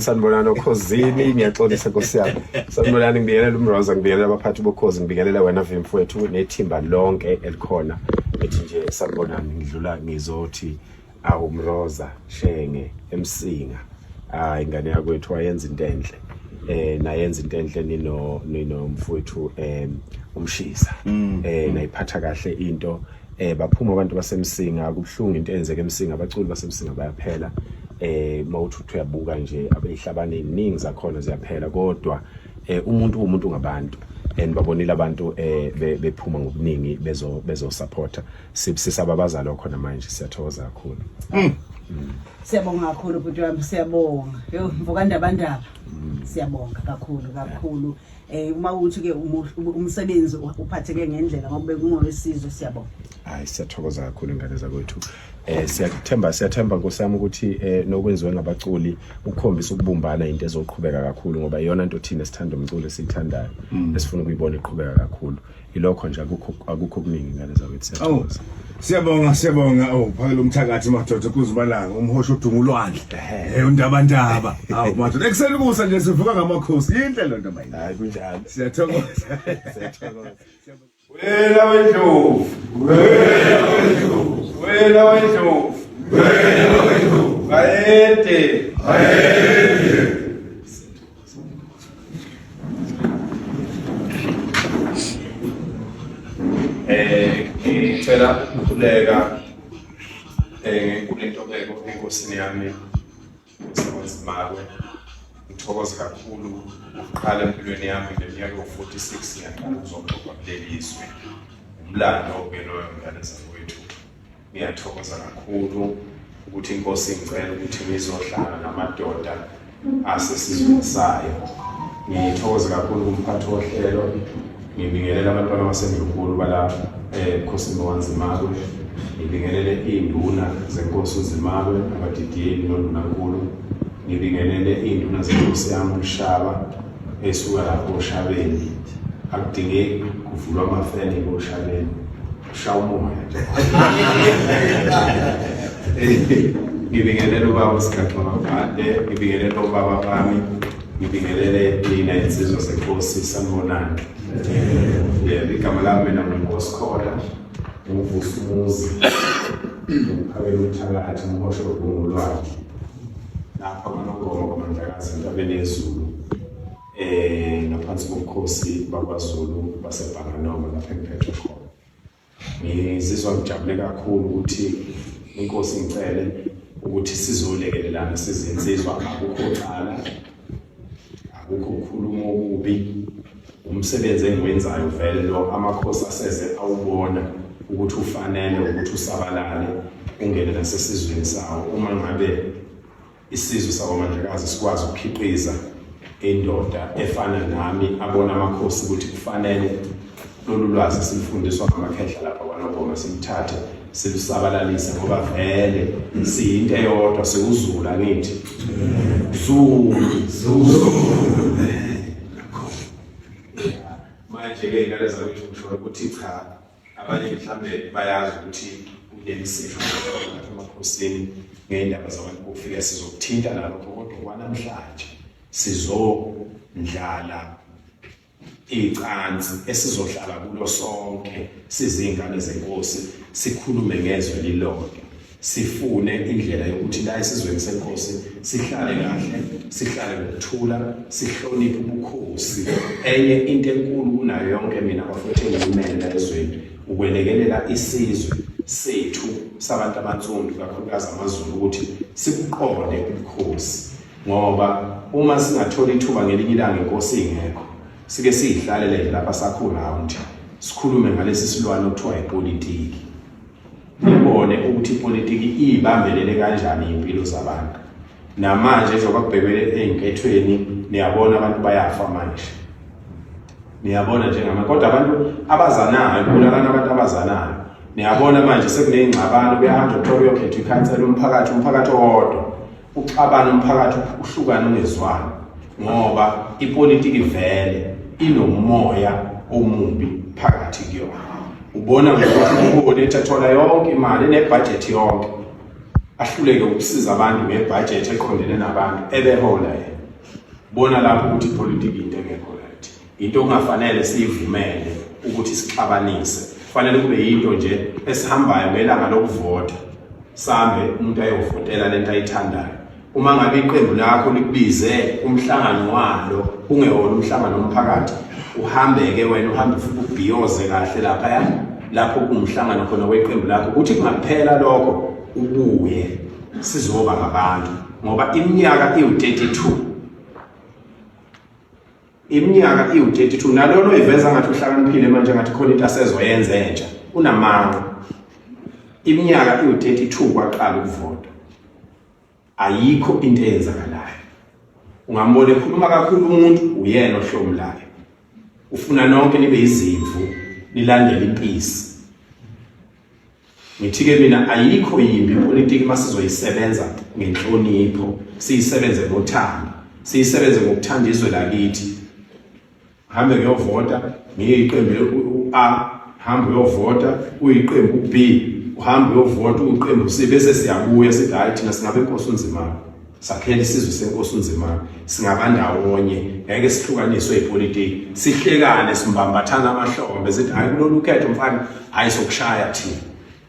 sanibonani okhozini ngiyaxolisa nkosi yami sanibonani ngibingelela umroza ngibingelela abaphathi bokhozi ngibingelela wena vimfu wethu nethimba lonke elikhona ethi nje sanibonani ngidlula ngizothi awu mroza shenge emsinga hayi ingane yakwethu wayenza into enhle eh nayenza into enhle nino nino mfowethu eh umshisa mm. eh nayiphatha kahle into eh baphuma abantu basemsinga kubuhlungu into enzeke emsinga abaculi basemsinga bayaphela eh mawuthi uthi uyabuka nje abehlabane iningi zakhona ziyaphela kodwa eh umuntu umuntu ngabantu and babonile abantu eh bephuma ngobuningi bezo bezo supporter sibusisa babaza lokho namanje siyathokoza kakhulu mm. mm. siyabonga kakhulu bhuti wami siyabonga yo mvukandabandaba mm. siyabonga kakhulu kakhulu yeah. eh uma uthi ke umsebenzi uphatheke ngendlela ngoba bekungowesizwe siyabonga hayi siyathokoza kakhulu ingane zakwethu eh siyathemba siyathemba nkosami ukuthi eh nokwenziwe ngabaculi ukukhombisa ukubumbana into ezoqhubeka kakhulu ngoba iyona nto thina sithanda umculo esiyithandayo mm. esifuna ukuyibona iqhubeka kakhulu ilokho nje akukho akukho kuningi ngane zakwethu siyathokoza Siyabonga siyabonga oh phakela umthakathi madoda kuzibalanga umhosha udunga ulwandle eh undaba ndaba awu madoda ekuseni kusa nje sivuka ngamakhosi yinhle lo nto mayini hayi kunjalo siyathokoza siyathokoza wena wendlovu wena wendlovu wena wendlovu wena wendlovu bayede bayede Eh, ngicela ukukhuleka eh kunentobeko enkosini yami uSibonzimakwe ngithokoze kakhulu ukuqala empilweni yami ngeminyaka yo-46 ngiyaqala ukuzoxoxa kuleli zwe umlando ke loyo mngane zakwethu Ngiyathokoza kakhulu ukuthi inkosi ingicela ukuthi ngizohlala namadoda asesizweni sayo. Ngithokoze kakhulu kumphathi wohlelo ngibingelela abantwana baseNdlunkulu bala ebukhosini eh, bokwanzimakwe ngibingelele iy'nduna zenkosi uzimakwe abadidiyeli nondunankulu ngibingelele iy'nduna zenkosi yami umshaba esuka lapho oshabeni akudingeki kuvulwa amafeni koshabeni Shaya umoya nje. Ngibingelela ubaba uSigaxo Mabhade, ngibingelela ubaba bami, ngibingelele nina insizwa senkosi sanibonani. Yeah, igama lami mina nguNkosi Khola, nguvusa umuzi, ngiphakela umthakathi, ngihoshe ubungu lwakhe. Lapha nganongoma kwaMandlakazi entabeni yezulu. eh ngaphansi kobukhosi bakwaZulu basebhanganoma lapha engiphethwe khona ngizizwa ngijabule kakhulu ukuthi inkosi ngicele ukuthi sizolekelelana sizinsizwa akukho cala akukho ukukhuluma okubi umsebenzi engiwenzayo vele lo amakhosi aseze awubona ukuthi ufanele ukuthi usabalale ungene nasesizweni sawo uma ngabe Isizwe sakwaMandlakazi sikwazi ukukhiqiza indoda efana nami abona amakhosi ukuthi kufanele lolu lwazi silufundiswa ngamakhehla lapha kwanobhoma siluthathe silusabalalise ngoba vele siyinto eyodwa siwuzulu angithi zulu zulu manje-ke ngalezakuthi ngisho ukuthi cha abanye mhlawumbe bayazi ukuthi kunemisipho emakhosini ngey'ndaba zabantu bokufika sizokuthinta nalokho kodwa kwanamhlanje sizondlala icansi esizohlala kulo sonke sizingane zenkosi sikhulume ngezwe lilodwa sifune indlela yokuthi la esizweni senkosi sihlale kahle sihlale ngokuthula sihloniphe ubukhosi enye into enkulu kunayo yonke mina bafethu engiyimele ezweni ukwelekelela isizwe sethu sabantu abansundu kakhulukazi amazulu ukuthi sikuqonde ubukhosi ngoba uma singathola ithuba ngelinye ilanga inkosi ingekho sike siyihlalele lapha sakhona nje sikhulume ngalesi silwane okuthiwa ipolitiki Sibone ukuthi ipolitiki iyibambelele kanjani impilo zabantu. Namanje njengoba kubhekele ezinkethweni niyabona abantu bayafa manje. Niyabona njengama kodwa abantu abazanayo kubulakana abantu abazanayo. Niyabona manje sekunezingxabano kuyahamba kuthiwa kuyokhetha ikhansela umphakathi umphakathi owodwa. Uxabana umphakathi uhlukana ungezwani ngoba ipolitiki vele inomoya omubi phakathi kuyona. Ubona ngokuthi ubuholi ethathola yonke imali enebhajethi yonke ahluleke ukusiza abantu ngebhajethi eqondene nabantu ebehola yena. Bona lapho ukuthi ipolitiki into engekho Into okungafanele siyivumele ukuthi sixabanise. Kufanele kube yinto nje esihambayo ngelanga lokuvota. Sambe umuntu ayovotela lento ayithandayo. Uma ngabe iqembu lakho likubize umhlangano walo ungewona umhlangano omphakathi uhambeke wena uhambe futhi ubhiyoze kahle lapha ya lapho kungumhlangano khona weqembu lakho ukuthi kungaphela lokho ubuye sizoba ngabantu ngoba iminyaka iwu-32 iminyaka iwu-32 nalona oyiveza ngathi uhlakaniphile manje ngathi khona into asezoyenza entsha unamanga iminyaka iwu-32 kwaqala ukuvota ayikho into eyenzakalayo ungambona ekhuluma kakhulu umuntu uyena ohlomulayo ufuna nonke nibe izimvu nilandele impisi Ngithike mina ayikho yimbi ipolitiki masizoyisebenza ngenhlonipho, siyisebenze ngothando, siyisebenze ngokuthanda izwe lakithi. Hambe kuyovota ngiyiqembu u-A, hambe uyovota uyiqembu u-B, uhambe uyovota uyiqembu u-C bese siyabuya sithi hayi thina singabe inkosi unzimana. sakhele isizwe senkosi unzimana singabandawonye ngeke sihlukaniswe ipolitiki sihlekane simbambathana amahlombe sithi hayi kulolu khetho mfana hayi sokushaya thina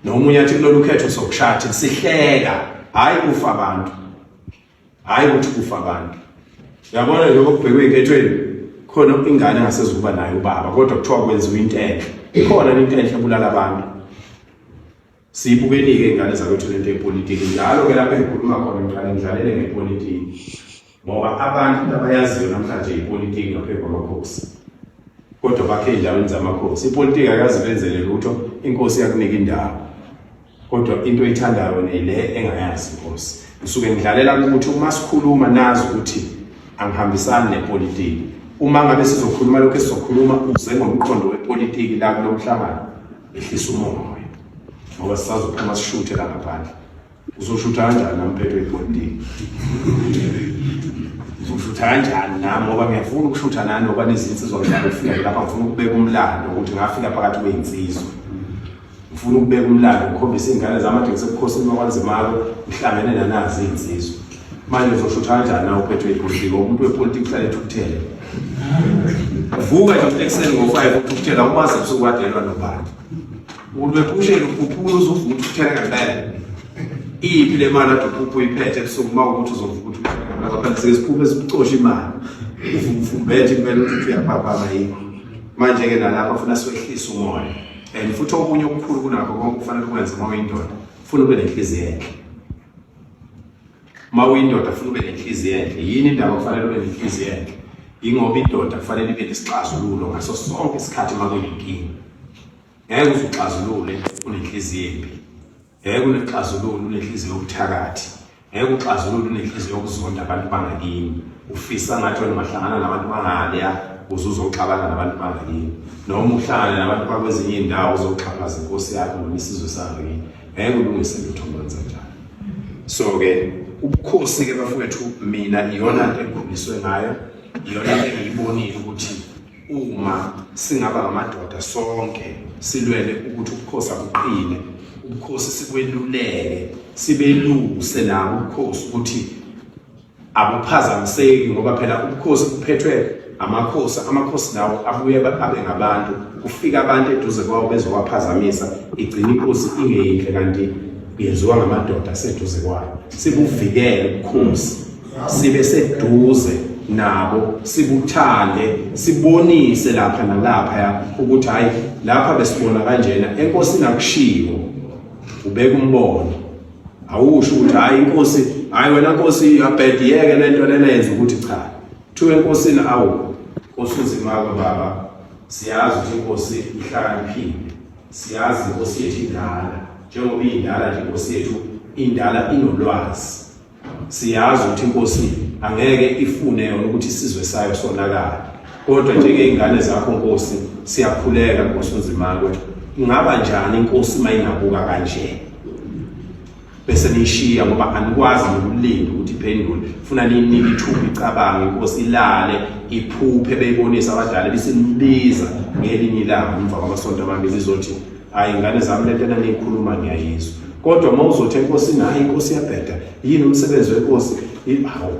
nomunye athi kulolu khetho sokushaya thina sihleka hayi kufa abantu hayi ukuthi kufa abantu uyabona lokho kubhekwe enkethweni khona ingane engasezukuba nayo ubaba kodwa kuthiwa kwenziwa into enhle ikhona into enhle ebulala abantu Siyibukeni-ke ingane zakwethu lento yepolitiki njalo ke lapho engikhuluma khona ngiqale ngidlalele ngepolitiki ngoba abantu into abayaziyo namhlanje yipolitiki ngaphezu kwamakhosi kodwa bakhe ey'ndaweni zamakhosi ipolitiki akazi benzele lutho inkosi yakunika indawo kodwa into oyithandayo nile engayazi inkosi ngisuke ngidlalela ukuthi uma sikhuluma nazi ukuthi angihambisani nepolitiki uma ngabe sizokhuluma lokhu esizokhuluma uze ngomqondo wepolitiki la kulo mhlangano ehlisa umoya ngoba sisazophuma sishuthe la ngaphandle uzoshutha kanjani nami phephe ebhodini uzoshutha kanjani nami ngoba ngiyafuna ukushutha nani ngoba nezinsizwa ngidlala ukufika lapha ngifuna ukubeka umlando ukuthi ngafika phakathi kweyinsizwa ngifuna ukubeka umlando ngikhombise iy'ngane zami ade ngisebukhosini bakwanzimalo ngihlangene nanazi iy'nsizwa manje uzoshuthi kanjani na uphethwe ipolitiki umuntu wepolitiki uhlale ethukuthele vuka nje umuntu ekuseni ngo-five uthukuthela umazi ubusuku wadelwa nobani umuntu wephusheni ukhuphula uzuvuka uthukuthele ngempela iyiphi le mali ade uphupha uyiphethe ebusuku uma ukuthi uzovuka ukuthi phela sike siphuphe sibucoshe imali uvumbethe kumele ukuthi uthi uyaphaphama yini manje-ke nalapho funa siwehlise umoya and futhi okunye okukhulu kunakho konke kufanele ukwenze uma uyindoda funa ube nenhliziyo enhle uma uyindoda funa ube nenhliziyo enhle yini indaba kufanele ube nenhliziyo enhle yingoba indoda kufanele ibe nesixazululo ngaso sonke isikhathi uma kuyinkinga ngeke uze uxazulule unenhliziyo embi ngeke unexazululo unenhliziyo yobuthakathi ngeke uxazulule unenhliziyo yokuzonda abantu bangakini ufisa ngathi wena ungahlangana nabantu bangaleya uze uzoxabana nabantu bangakini noma uhlangane nabantu bakwezinye iy'ndawo uzoxhaphaza inkosi yakho noma isizwe sangakini ngeke ulungise lutho manje njalo so ke ubukhosi ke bafowethu mina iyona nto engikhuliswe ngayo iyona nto engiyibonile ukuthi uma singaba ngamadoda sonke silwele ukuthi ubukhosi abuqine ubukhosi sikweluleke sibeluse nabo ubukhosi ukuthi abuphazamiseki ngoba phela ubukhosi buphethwe amakhosi amakhosi lawo abuye abe ngabantu kufika abantu eduze kwawo bezowaphazamisa igcina inkosi ingeyinhle kanti yenziwa ngamadoda aseduze kwayo sibuvikele ubukhosi sibe seduze nabo sibuthande sibonise lapha nalapha ya ukuthi hayi lapha besibona kanjena enkosi nakushiwo ubeka umbono awusho ukuthi hayi inkosi hayi wena nkosi abhediyeke lento lena yenza ukuthi cha thiwe enkosini awu nkosi uzimako baba siyazi ukuthi inkosi ihlakaniphile siyazi inkosi yethu indala njengoba iyindala nje inkosi yethu indala inolwazi siyazi ukuthi inkosi angeke ifune yona ukuthi isizwe sayo sonakala kodwa njengey'ngane zakho nkosi siyakhuleka nkosi unzimako ingaba njani inkosi uma ingabuka kanje bese niyishiya ngoba anikwazi nokulinda ukuthi iphendule funa ninike ithuba icabange inkosi ilale iphuphe beyibonisa abadala bisimbiza ngelinye ilanga umva kwamasonto amabili izothi hayi ingane zami lento enaniyikhuluma ngiyayizwa kodwa uma uzothi enkosini hayi inkosi yabheda yini umsebenzi wenkosi hawu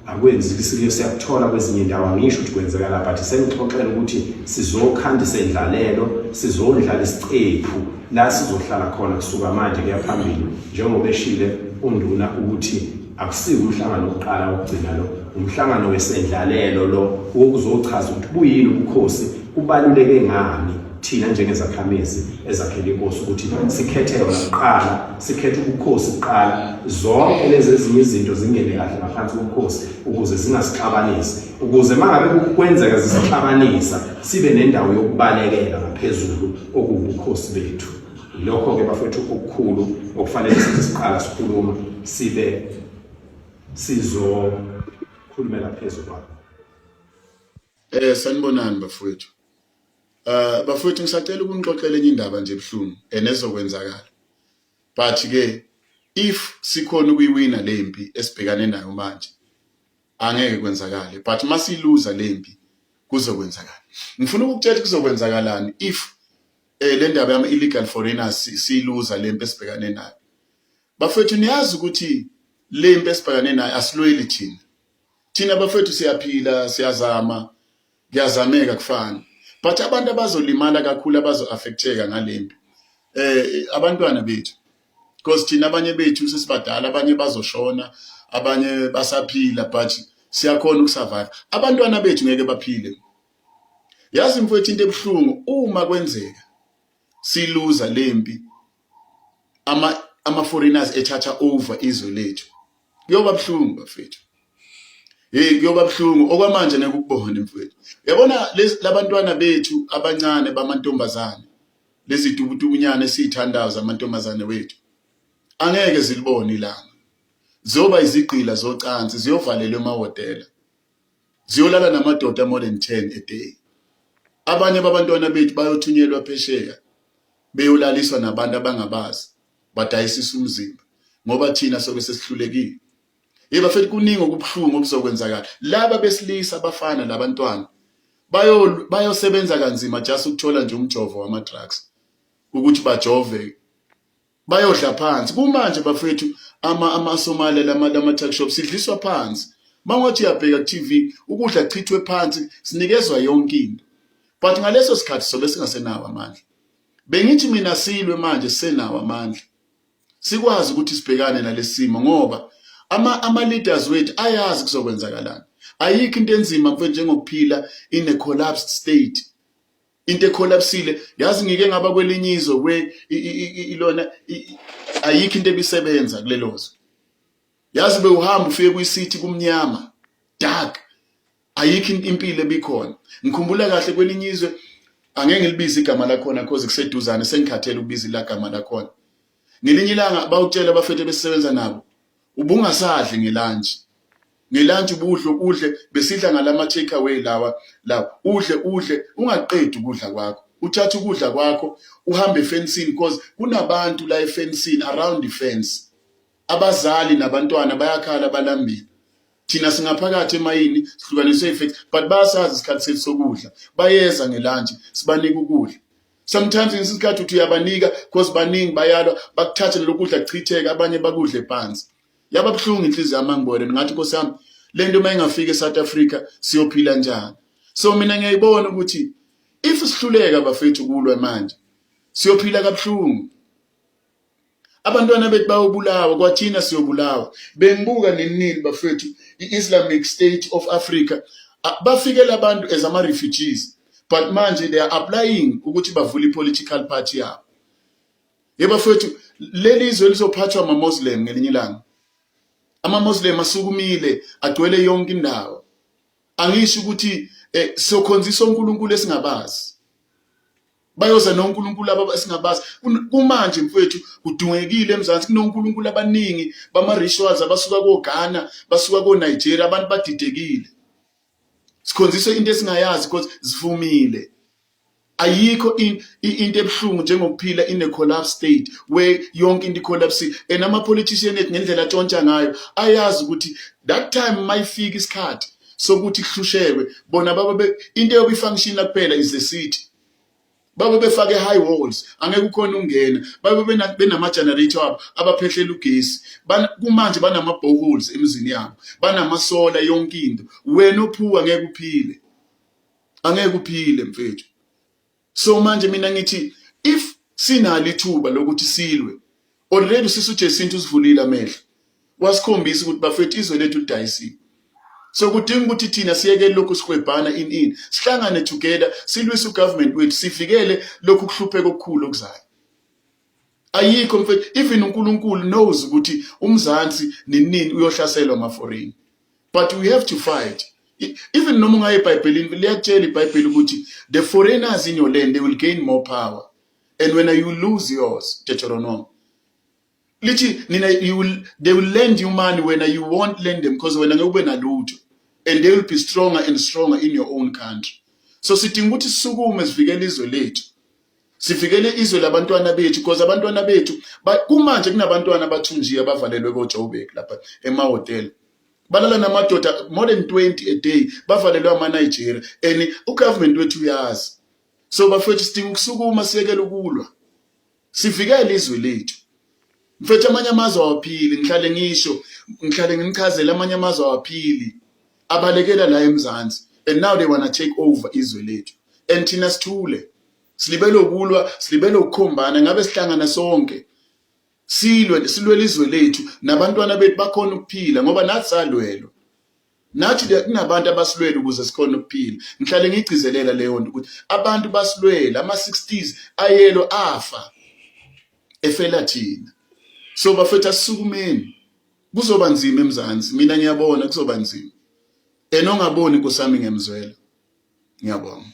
akwenzeki sike siyakuthola kwezinye indawo angisho ukuthi kwenzeka la but sengixoxela ukuthi sizokhanda isendlalelo sizodlala isicephu la sizohlala khona kusuka manje kuya phambili njengoba eshile unduna ukuthi akusiwo umhlangano wokuqala wokugcina lo umhlangano wesendlalelo lo wokuzochaza ukuthi buyini ubukhosi kubaluleke ngani Thina njengezakhamizi ezakhele inkosi ukuthi sikhethe yona kuqala, sikhethe ubukhosi kuqala, zonke lezi ezinye izinto zingene kahle ngaphansi kobukhosi ukuze zingasixabanisi, ukuze uma ngabe kwenzeka zisixabanisa sibe nendawo yokubalekela ngaphezulu okuwubukhosi bethu. Yilokho-ke bafethu okukhulu okufanele sithi siqala sikhuluma sibe sizokhulumela phezu kwakho. Eh sanibonani bafowethu. uh, bafowethu ngisacela ukunixoxela enye indaba nje ebuhlungu and ezokwenzakala but ke if sikhona ukuyiwina le mpi esibhekane nayo manje angeke kwenzakale but masiluza le mpi kuzokwenzakala ngifuna ukukutshela kuzokwenzakalani if eh le ndaba yama illegal foreigners siyiluza le mpi esibhekane nayo bafethu niyazi ukuthi le mpi esibhekane nayo asilweli thina thina bafethu siyaphila siyazama kuyazameka kufana but abantu abazolimala kakhulu abazo-affecteka ngalempi um eh, abantwana bethu because thina abanye bethu sesibadala abanye bazoshona abanye basaphila but siyakhona ukusurvive abantwana bethu ngeke baphile yazi mfowethu into ebuhlungu uma kwenzeka siluza lempi ama ama foreigners ethatha over izwe lethu kuyoba buhlungu bafethu hey kuyoba buhlungu okwamanje ngeke ukubone mfethu yabona labantwana bethu abancane bamantombazane lezi dubudubunyane esithandayo zamantombazane wethu angeke zilibone ilanga zoba izigqila zocansi ziyovalelwa emahotela ziyolala namadoda more than 10 a day abanye babantwana bethu bayothunyelwa phesheya beyolaliswa nabantu abangabazi badayisisa umzimba ngoba thina sobe sesihlulekile yeba futhi kuningi okubuhlungu okuzokwenzakala laba besilisa abafana labantwana bayo bayosebenza kanzima just ukuthola nje umjovo wama drugs ukuthi bajove bayodla phansi kumanje bafethu ama amasomali lama lama tuck shop sidliswa phansi mangothi uyabheka ku-TV ukudla chithwe phansi sinikezwa yonke into but ngaleso sikhathi sobe singasenawo amandla bengithi mina silwe manje senawo amandla sikwazi ukuthi sibhekane nalesimo ngoba ama ama leaders wethu ayazi kuzokwenzakalana ayikho into enzima mfethu njengokuphila in a collapsed state into ekholapsile yazi ngike ngaba kwelinye izwe kwe ilona ayikho into ebisebenza kulelo zwe yazi bewuhamba ufike kuyisithi kumnyama dark ayikho impilo ebikhona ngikhumbula kahle kwelinye izwe angeke ngilibize igama lakhona cause kuseduzane sengikhathele ukubiza ilagama lakhona ngelinye ilanga bawutshela abafethu besebenza nabo ubungasadli ngelunch ngelunch ubudle ukudle besidla ngalama take away lawa lawa udle udle ungaqedi ukudla kwakho uthathe ukudla kwakho uhambe efensini because kunabantu la efensini around the fence abazali nabantwana bayakhala balambile thina singaphakathi emayini sihlukaniswe ifence but bayasazi isikhathi sethu sokudla bayeza ngelunch sibanike ukudla sometimes ngesinye isikhathi uthi uyabanika because baningi bayalwa bakuthathe lelo kudla kuchitheke abanye bakudle phansi yaba buhlungu inhliziyo yami angibone ngathi nkosi yami le nto uma ingafika e-south africa siyophila njani so mina ngiyayibona ukuthi if sihluleka bafethu kulwa manje siyophila kabuhlungu abantwana bethu bayobulawa kwathina siyobulawa bengibuka ninini bafethu i-islamic state of africa bafikela abantu as ama-refugees but manje they are applying ukuthi bavule i-political party yabo ye bafethu leli izwe lizophathwa ama-muslim ngelinye ilanga ama-muslim asukumile agcwele yonke indawo angisho ukuthi um eh, sokhonzisa onkulunkulu esingabazi bayoza nonkulunkulu aba esingabazi kumanje mfowethu kudungekile emzansi kunonkulunkulu abaningi bama-rituals abasuka koghana basuka konigeria abantu badidekile sikhonziswe into esingayazi because zivumile ayikho into ebuhlungu njengokuphila in a collapse state where yonke into icollapse and ama-politician ethu ngendlela atshontsha ngayo ayazi ukuthi that time mayifika isikhathi sokuthi kuhlushekwe bona baba be into yokuyi function la kuphela is the city baba befake high walls angeke ukhona ungena baba benama generator abo abaphehlela ugesi kumanje banama boreholes emizini yabo banama solar yonke into wena ophuwa ngeke uphile angeke uphile mfethu so manje mina ngithi if sinalo ithuba lokuthi silwe already usisi uJesintu usivulile amehlo wasikhombisa ukuthi bafethu izwe lethu lidayisiwe so kudinga ukuthi thina siyeke lokhu sikwebhana in in sihlangane together silwise ugovernment wethu sivikele lokhu kuhlupheka okukhulu okuzayo ayikho mfethu even uNkulunkulu knows ukuthi umzansi ninini uyohlaselwa maforeign but we have to fight e, even noma ungaye ebhayibhelini liyakutshela ibhayibheli ukuthi the foreigners in your land they will gain more power and when you lose yours deuteronomy lithi nina you will, they will lend you money when you won't lend them because wena ngeke ube nalutho and they will be stronger and stronger in your own country so sidinga ukuthi sisukume sivikele izwe lethu sivikele izwe labantwana bethu because abantwana bethu kumanje kunabantwana abathunjiwe abavalelwe kojoburg lapha emahhotela balala namadoda more than 20 a day bavalelwe amanigeria and ugovernment wethu uyazi so bafethu sidinga ukusukuma siyekele ukulwa sivikele izwe lethu mfethu amanye amazwe awaphili ngihlale ngisho ngihlale ngimchazele amanye amazwe awaphili abalekela la emzansi and now they wanna take over izwe lethu and thina sithule silibele ukulwa silibele ukukhombana ngabe sihlangana sonke silwe silwele izwe lethu nabantwana bethu bakhona ukuphila ngoba nathi salwelwa nathi kunabantu abasilwele ukuze sikhona ukuphila ngihlale ngigcizelela leyo nto ukuthi abantu basilwele ama-60s ayelo afa efela thina so bafethu asisukumeni kuzoba nzima emzansi mina ngiyabona kuzoba nzima and ongaboni kusami ngemzwela ngiyabonga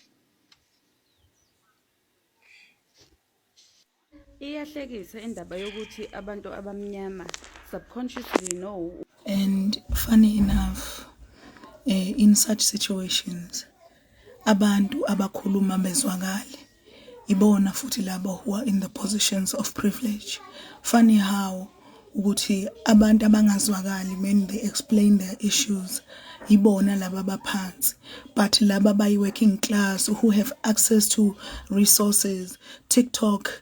iyahlekisa indaba yokuthi abantu abamnyama subconsciously know and funny enough eh, in such situations abantu abakhuluma bezwakale Ibona futhi labo who are in the positions of privilege. Funny how ukuthi abantu abangazwakali when they explain their issues yibona laba abaphansi but laba bayi-working class who have access to resources tiktok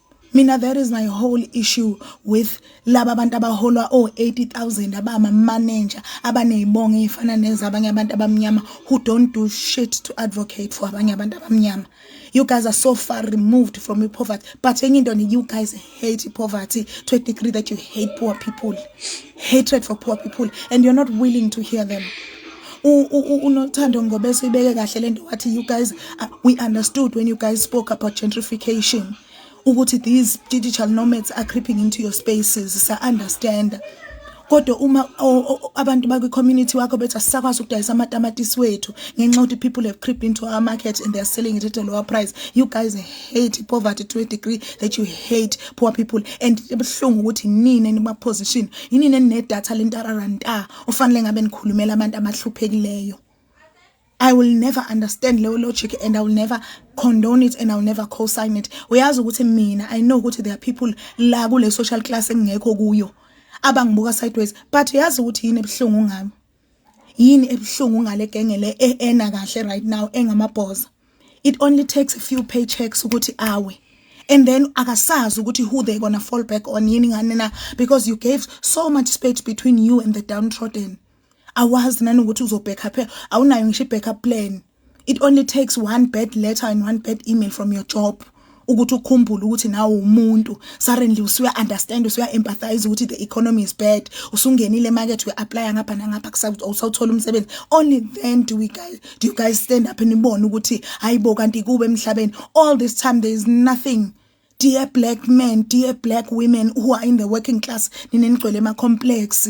Mina that is my whole issue with laba abantu abaholwa o 80000 abama manager abanezibongo ezifana nezabanye abantu abamnyama who don't do shit to advocate for abanye abantu abamnyama you guys are so far removed from poverty but enye into you guys hate poverty to a degree that you hate poor people hatred for poor people and you're not willing to hear them unothando ngoba esibeke kahle lento wathi you guys uh, we understood when you guys spoke about gentrification ukuthi these digital nomads are creeping into your spaces sa understand kodwa uma abantu bakwi community wakho bethi asisakwazi ukudayisa amatamatisi wethu ngenxa ukuthi people have creeped into our market and they are selling it at a lower price you guys hate poverty to a degree that you hate poor people and ebuhlungu ukuthi nini enima position yini nene data lentararanta ofanele ngabe nikhulumela abantu abahluphekileyo I will never understand leyo logic and I will never condone it and I will never co-sign it uyazi ukuthi mina I know ukuthi there are people la kule social class engekho kuyo abangibuka sideways but yazi ukuthi yini ebuhlungu ngami yini ebuhlungu ngale genge le eena kahle right now engamabhoza it only takes a few paychecks ukuthi awe and then akasazi ukuthi who they gonna fall back on yini ngani na because you gave so much space between you and the downtrodden awazi nanokuthi uzobhekha phela awunayo ngisho ibackup plan it only takes one bad letter and one bad email from your job ukuthi ukhumbule ukuthi nawe umuntu suddenly usuya understand usuya empathize ukuthi the economy is bad usungenile market we apply ngapha nangapha kusakuthi usawuthola umsebenzi only then do we guys do you guys stand up nibone ukuthi hayibo kanti kube emhlabeni all this time there is nothing dear black men dear black women who are in the working class ninenigcwele ema complex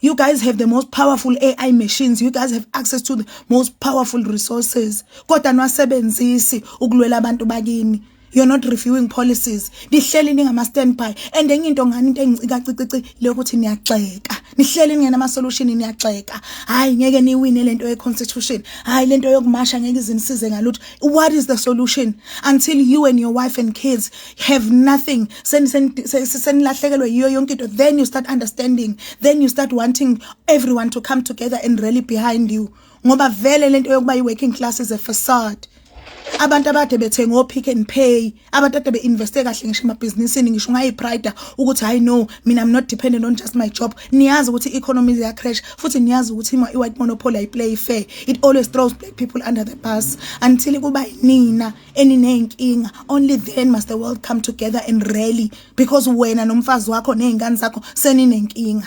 You guys have the most powerful AI machines. You guys have access to the most powerful resources. Kodwa nwasebenzisi ukulwela abantu bakini. You're not reviewing policies. Nihleli ningama standby. And enye into ngani into engicika cicici le ukuthi niyaxeka. Nihleli ningena ama solution niyaxeka. Hayi ngeke niwine lento ye constitution. Hayi lento yokumasha ngeke izinisize ngalutho. What is the solution until you and your wife and kids have nothing senilahlekelwe yiyo yonke into then you start understanding then you start wanting everyone to come together and rally behind you ngoba vele lento yokuba i-working class is a facade abantu abade bethenga opick and pay abantu ade beinveste kahle ngisho emabhizinisini ngisho ungayiprida ukuthi hayi no mina i'm not dependent on just my job niyazi ukuthi i-economy iya crash futhi niyazi ukuthi i-white monopoly ayiplay fair it always throws black people under the bus until kuba yinina eniney'nkinga only then must the world come together and rally because wena nomfazi wakho ney'ngane zakho seninenkinga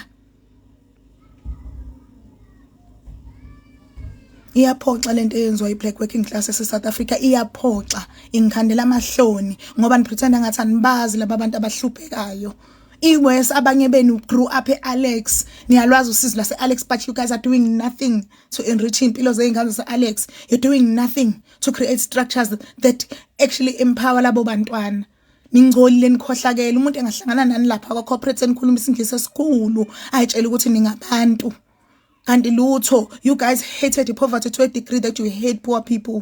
iyaphoxa lento eyenziwa i-black working class ese-south africa iyaphoxa ingikhandela amahloni ngoba nipretenda ngathi anibazi laba bantu abahluphekayo iwes abanye benu grew up e-alex niyalwazi usizi lase-alex but you guys are doing nothing to enrich iy'mpilo zey'ngane zase-alex you're doing nothing to create structures that actually empower labo bantwana ningcolile nikhohlakele umuntu engahlangana nani lapha kwa corporate enikhuluma isingisi esikhulu ayitshela ukuthi ningabantu kanti lutho you guys hated the poverty to a degree that you hate poor people